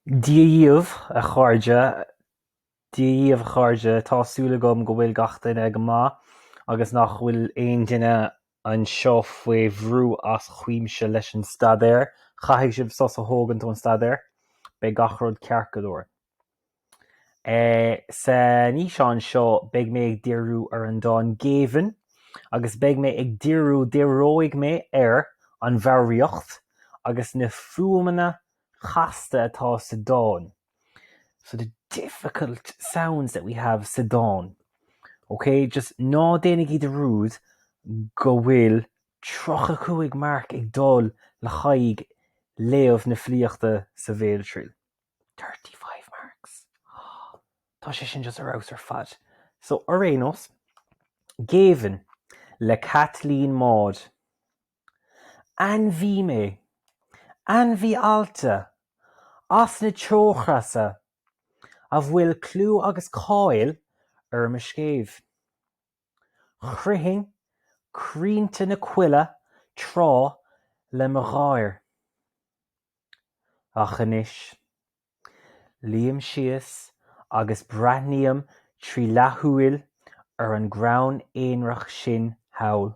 Dia dhíobh, a chairde. Dia dhíobh, a chairde. Tá súil agam go bhfuil gach duine go maith agus nach bhfuil aon duine anseo faoi bhrú as cuimse leis an staidéar. Caithfidh sibh sos a thógaint ón staidéar. Beidh gach rud ceart go leor. San fhíseán seo beidh mé ag díriú ar an dán 'Géibheann' agus beidh mé ag díriú, díreoidh mé ar an bhfoghraíocht agus na fuaimeanna chasta atá sa dán so the difficult sounds that we have sa dán ok just ná déanaigí dearúd go bhfuil 35 marc ag dul le haghaidh léamh na filíochta sa bhéaltriail 35 marks Tá sé sin just ar fheabhas ar fad so ar aon nós géibheann le Caitlín Maude Ainmhí mé. Ainmhí allta, as na teochreasa, a bhfuil clú agus cáil ar mo scéimh. Chroithfinn crainnte na coille tráth le mo gháir. Ach anois. Luím síos agus breathnaím trí leathshúil ar an gcrann aonraic sin thall.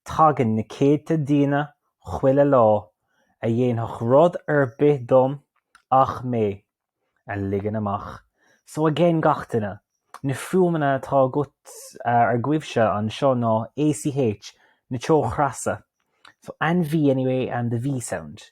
Tagann na céadta daoine chuile lá a dhéanfadh rud ar bith dom ach mé a ligean amach. So again gach duine, na fuaimeanna atá agat, agaibhse anseo ná ACH, na teochreasa, so ainmhí anyway, the V sound.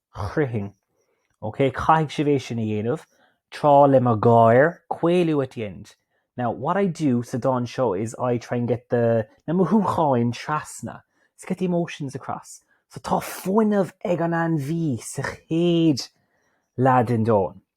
chroithfinn. OK, caithfidh sibh é sin a dhéanamh, tráth le mo gháir, caolú at the end. Now, what I do sa dán seo is I try and get the na mothúcháin trasna, let's get the emotions across. So tá fuinneamh ag an ainmhí sa chéad leath den dán.